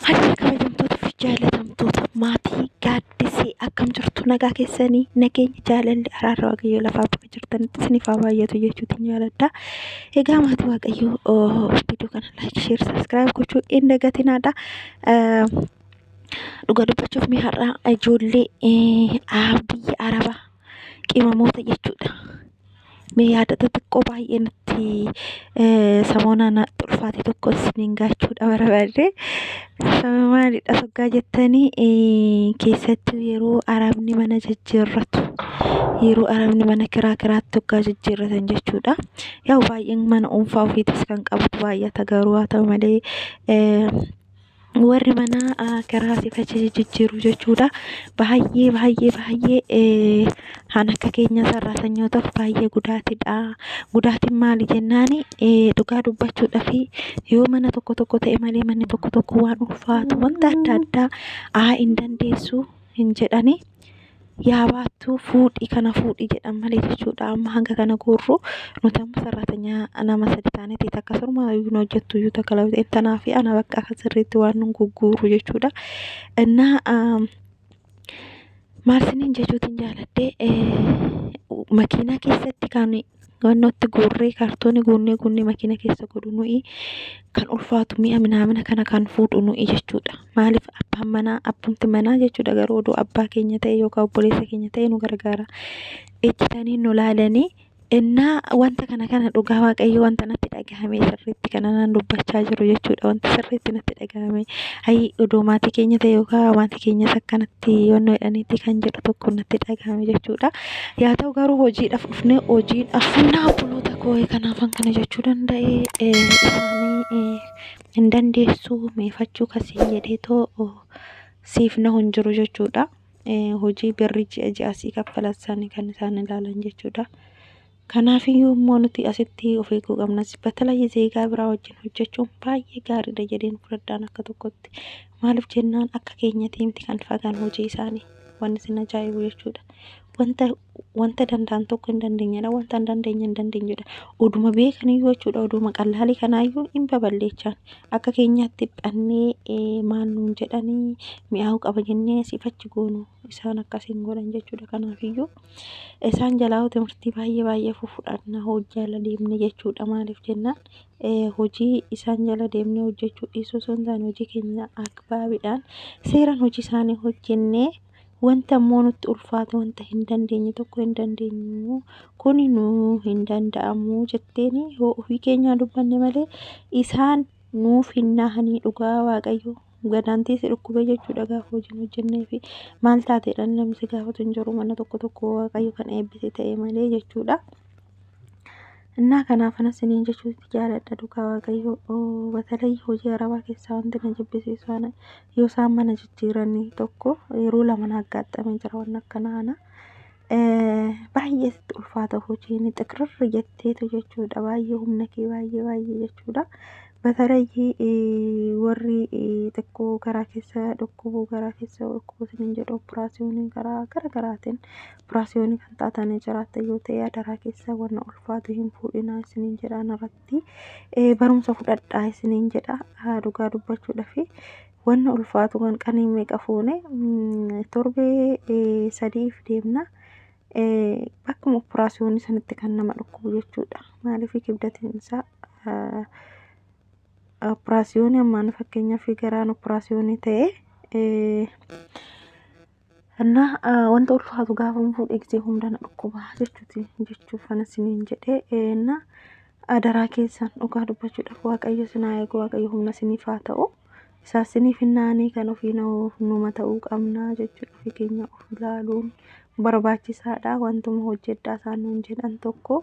Fayyaa kabajamtoota fi jaalatamtoota maatii gaaddisee akkam jirtu nagaa keessanii nageenya jaalalli araarra waaqayyoo lafaa bakka jirtanitti isiniif haa baay'atu jechuutiin jaaladha. Egaa maatii waaqayyoo viidiyoo kana laayik sheer sabiskiraayib gochuu hin dagatinaadha. Dhuga dubbachuuf mee har'a ijoollee biyya arabaa qimamoota jechuudha. Mee yaadota xiqqoo baay'ee nutti samoonaa natti ulfaate tokko isiniin gaachuudha barbaadde. Sababa maalidha soggaa jettanii keessattuu yeroo arabni mana jijjiirratu. Yeroo arabni mana kiraa kiraatti soggaa jijjiirratan jechuudha. Yaa'u baay'een mana dhuunfaa ofiitis kan qabu baay'ata garuu haa ta'u malee warri manaa garaa siif achi jijjiiru jechuudha. Baay'ee baay'ee baay'ee kan akka keenya sarraa sanyootaaf baay'ee gudaatidha. Gudaatiin maali jennaan dhugaa dubbachuudhaaf yoo mana tokko tokko ta'e malee manni tokko tokko waan ulfaatu wanta adda addaa haa hin dandeessu hin jedhani. yaa baattuu fuudhi kana fuudhi jedhan malee jechuudha amma hanga kana guurru nuti amma sarraatanya nama sadi taaneeti takka surma yookiin hojjettu iyyuu takka lafti tanaa fi ana bakka akka sirriitti waan nun gugguuru jechuudha innaa maal siniin jechuutiin jaaladhee makiinaa keessatti kan Wannoo itti guurree kaartooni guunnee guunnee makiina keessa godhu nu'ii kan ulfaatu mi'a minaamina kana kan fuudhu nu'ii jechuudha. Maaliif abbaan manaa abbumti manaa jechuudha garuu odoo abbaa keenya ta'e yookaan obboleessa keenya ta'e nu gargaara. Ejjitanii nu laalanii ennaa wanta kana kana dhugaa waaqayyo wanta natti dhagahame sirriitti kana nan dubbachaa jiru jechuudha. Wanti sirriitti natti dhagahame ayii odoo maatii keenya ta'e yookaan maatii keenyas akkanatti. itti yoonnoodhaan itti kan jedhu tokko natti dhagahame jechuudha. Yaa ta'u garuu hojiidhaaf dhufnee hojiidhaaf humna obboloota koo kanaafan kana jechuu danda'e isaanii hin dandeessu meefachuu kasiin jedhee too siif na hin jiru jechuudha. Hojii birri ji'a ji'a sii kaffalan sana kan isaan ilaalan jechuudha. Kanaafiyyuu immoo nuti asitti of eeguu qabna. Batalayee zeegaa biraa wajjin hojjechuun baay'ee gaariidha jedheen fudhadhaan akka tokkotti. Maaliif jennaan akka keenyatii miti kan fagaan hojii isaanii wanni isin ajaa'ibu jechuudha. Wanta wanta danda'an tokko hin dandeenyedha wanta hin dandeenye hin dandeenyedha. Oduma beekaniyyuu jechuudha oduma qallaalii kanaayyuu hin babal'eechaan akka keenyaatti dhannee eh, maal nuun jedhanii mi'aawu qaba jennee asiif achi goonu isaan akkas hin godhan jechuudha. Kanaafiyyuu Isaan jalaa hoo timirtii baay'ee baay'ee fufudhanna hojii ala deemne jechuudha maaliif jennaan hojii isaan jala deemne hojjechuu dhiisuu osoo hin taane hojii keenya akbaabiidhaan seeraan hojii isaanii hojjennee wanta immoo nutti ulfaate wanta hin dandeenye tokko hin dandeenyu kun nu hin danda'amu jetteeni hoo ofii keenyaa dubbanne malee isaan nuuf hin naahanii dhugaa waaqayyoo. gadaan teesse dhukkubee jechuudha gaafa hojiin hojjennee fi maal taateedhaan namni si gaafatu hin jiru mana tokko tokko waaqayyo kan eebbise ta'e malee jechuudha. Innaa kanaaf anas isiniin jechuutti jaaladha dhugaa waaqayyo batalee hojii arabaa keessaa wanti na jibbisiisu ana yoo isaan mana jijjiiranii tokko yeroo lama na aggaattamee jira waan akkana ana. baay'ee sitti ulfaata hojiin xiqirri jetteetu jechuudha baay'ee humna kee baay'ee baay'ee jechuudha batarayyii warri xiqqoo garaa keessa dhukkubuu garaa keessa dhukkubuu sinin jedhu operaasiyoonii garaa gara garaatiin operaasiyoonii kan taatanii jiraatta yoo ta'e adaraa keessa wanna ulfaatu hin fuudhinaa isinin jedhaan irratti barumsa fudhadhaa isinin jedha dhugaa dubbachuudha fi wanna ulfaatu kan qanii meeqa fuune torbee sadiif deemna. Akkuma operaasiyoonii sanitti kan nama dhukkubu jechuudha. Maaliif kibdatiin isaa operaasiyoonii ammaan fakkeenyaaf garaan operaasiyoonii ta'e Kennaa ah, wanta ulfaatu gaafan fuudhe gisee hunda na dhukkuba jechuuti jechuuf kana siniin jedhee eenna adaraa keessan dhugaa dubbachuudhaaf waaqayyo sinaa eegu waaqayyo humna siniif haa ta'u isaa siniif hin naanii kan ofii na'u numa ta'uu qabna jechuudha ofii keenya of ilaaluun barbaachisaadha wantuma hojjedhaa isaan nuun jedhan tokko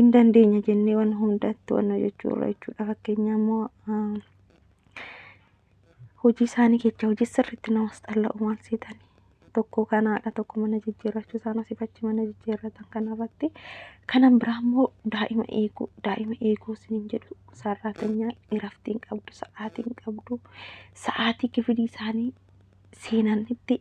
hin dandeenya jennee waan hundatti waan hojjechuu irra jechuudha fakkeenyaa immoo ah, hojii isaanii jecha hojii sirriitti namas xalla'u waan seetan tokko kanaadha tokko mana jijjiirrachuu isaan asiif achi mana jijjiirratan kanarratti kanan biraa immoo daa'ima eeguu daa'ima eeguu isiniin jedhu sarraatanyaa iraftiin qabdu sa'aatiin qabdu sa'aatii kifilii isaanii seenanitti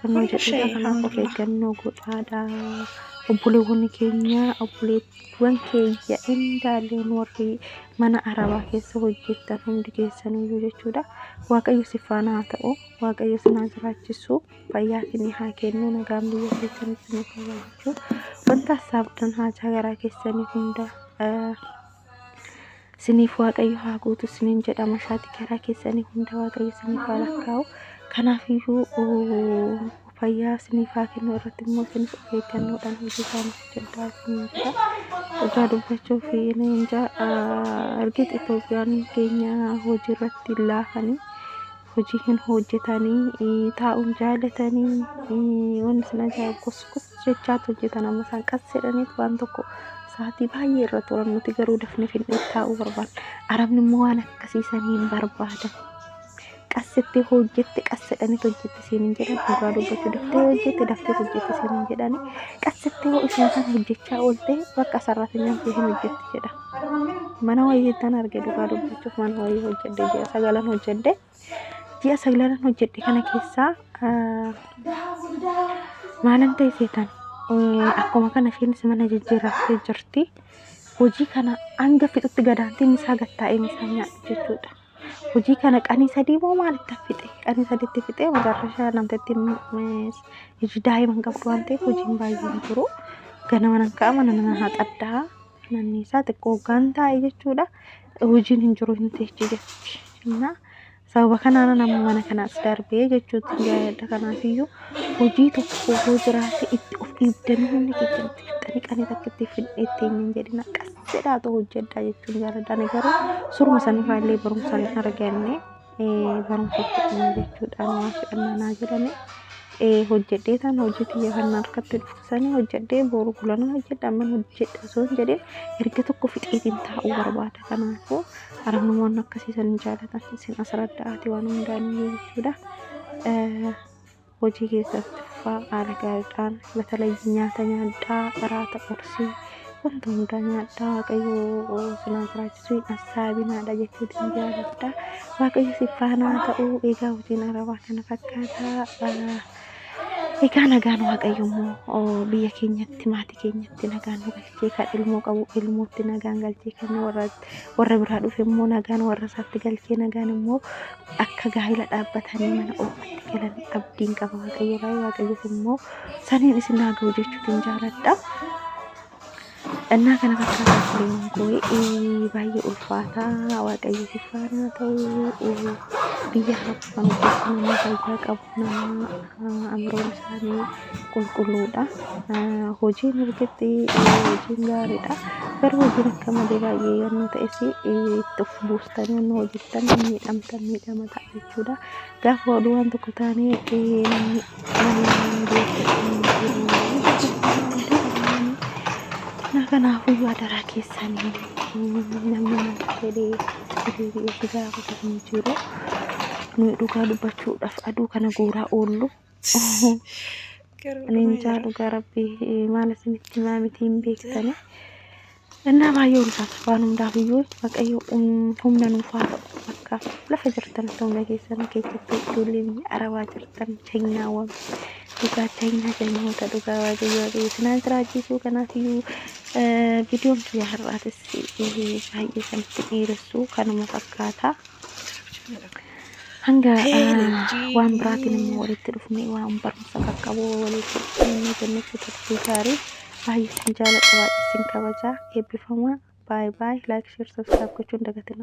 Fannoo jedhudha. Kanaaf of eeggannoo godhaadha. Obboleewwan keenya obboleewwan keenya indaaleen warri mana arabaa keessa hojjettan hundi keessaniyyuu jechuudha. Waaqayyo si faana haa ta'u. Waaqayyo si naa jiraachisu. Fayyaa isinii haa kennu. Nagaan biyya keessanitti nu fayyaa jechuudha. Wanta saabdan haajaa garaa keessanii hunda Siniif waaqayyo haa guutu sinin jedha mashaati karaa keessanii hunda waaqayyo siniif haa lakkaa'u. Kanaafiyyuu fayyaa siniif haa kennu irratti immoo sinis of eeggannoodhaan hojii isaanii hojjedhaa sinin jedha. Dhugaa dubbachuuf inni inja ergit Itoophiyaan keenya hojii irratti laafanii. hojii hin hojjetanii taa'uun jaalatanii wanni isin ajaa'ibu kos kos jechaatu hojjetan amma isaan qas jedhaniit waan tokko sa'aatii baay'ee irra turan nuti garuu dafne finnee taa'uu barbaadna arabni immoo waan akkasiisan hin barbaadan qassitti hojjette qas jedhaniit hojjette siin hin jedhan dhugaa dubbachuu daftee hojjette daftee hojjette siin hin jedhani qassitti hoo isuma kana hojjechaa oolte bakka sarratanyaan kee hin hojjette jedha mana wayii tan arge dhugaa dubbachuuf mana wayii hojjedhe ji'a sagalan hojjedhe ji'a sagalan hojjedhe kana keessaa maalan ta'e seetan akkuma kana isheenis mana jijjiirrattee jirti hojii kana hanga fixutti gadaantiin isaa gattaa'ee isaa nyaadhu jechuudha hojii kana qanii sadii moo maalitti fixe qanii sadiitti fixe magarrashaa namtatti hojii daa'iman qabdu waan ta'eef hojiin baay'een jiru ganama nan ka'a mana nan haxadhaa manni isaa xiqqoo hoggaan taa'e jechuudha hojiin hin jiru hin teechi jechuudha. Innaa sababa kanaan nama mana kanaas darbee jechuutti gaa'eedha kanaaf iyyuu hojii tokko yoo jiraate itti of dhiibdanii hundi keessan itti fixanii qanii takka itti fidhee itti hin jedhin akkas jedhaatu hojjedhaa jechuun jaalladha. Ani garuu suruma sanirraa illee barumsa hin arganne. barumsa fudhannee jechuudhaan waan fudhannaa naa jedhame hojjedhee tan hojii kiyya kan harkatti dhufsanii hojjedhee boru gulana hojjedha amman hojjedha osoo hin jedhin erga tokko fixeetiin taa'uu barbaada kanaafuu aramamoon akkasiisan hin jaalatan isin asirratti ati waan hundaanii jechuudha. hojii keessatti fufaa haala gaariidhaan batalayyi nyaata nyaadhaa qaraata qorsii wanta hundaa nyaadhaa waaqayyoo sinaa jiraachisuu hin assaabinaadha jechuu dinjaaladha waaqayyo si faanaa ta'uu eegaa hojiin arabaa kana fakkaataa egaa nagaan waaqayyo immoo biyya keenyatti maatii keenyatti nagaan nu galchee kan ilmoo qabu ilmootti nagaan galchee kan warra warra biraa dhufe immoo nagaan warra isaatti galchee nagaan immoo akka gaa'ila dhaabbatanii mana oofatti galan abdiin qaba waaqayyo irraa waaqayyos immoo saniin isin haa ga'u jechuutiin jaaladha. Dhannaa kana fakkaata fileewwan koo baay'ee ulfaataa waaqayyo sifaanaa ta'u biyya hafuufamu keessatti nama fayyaa qabu. namaa amroon isaanii qulqulluudha. Hojiin mirgitti hojiin gaariidha. Garuu hojiin akka malee baay'ee yommuu ta'es itti of buustan yommuu hojjettan miidhamtan miidhama ta'a jechuudha. Gaafa oduu waan tokko taanee namni kanaafuu adaraa keessanii namni maal jedhee deebi'ee itti gaafatu hin jiru. Nuyi dhugaa dubbachuudhaaf aduu kana guuraa oollu. Ani hin jaa dhugaa rabbii maal isinitti himaa miti hin beektani. Innaa baay'ee ulfaata waan hundaaf iyyuu waaqayyo humna nuuf haa ta'u akka lafa jirtan ta'u nageessan keessatti ijoolleen arabaa jirtan keenyaa waan Dhugaa China galmoota dhugaa waaqayyoo fi isinaan jiraachisuu kanaaf iyyuu viidiyoon kiyya har'aatis baay'ee sanatti dheeressu kanuma fakkaata. Hanga waan biraatiin immoo walitti dhufne waan barumsa qaqqabu walitti dhufne jennechuu turtii gaarii baay'ee sin jaaladha baay'ee sin kabaja eebbifamaa baay baay laayik sheer sabskiraayib gochuun dagatina.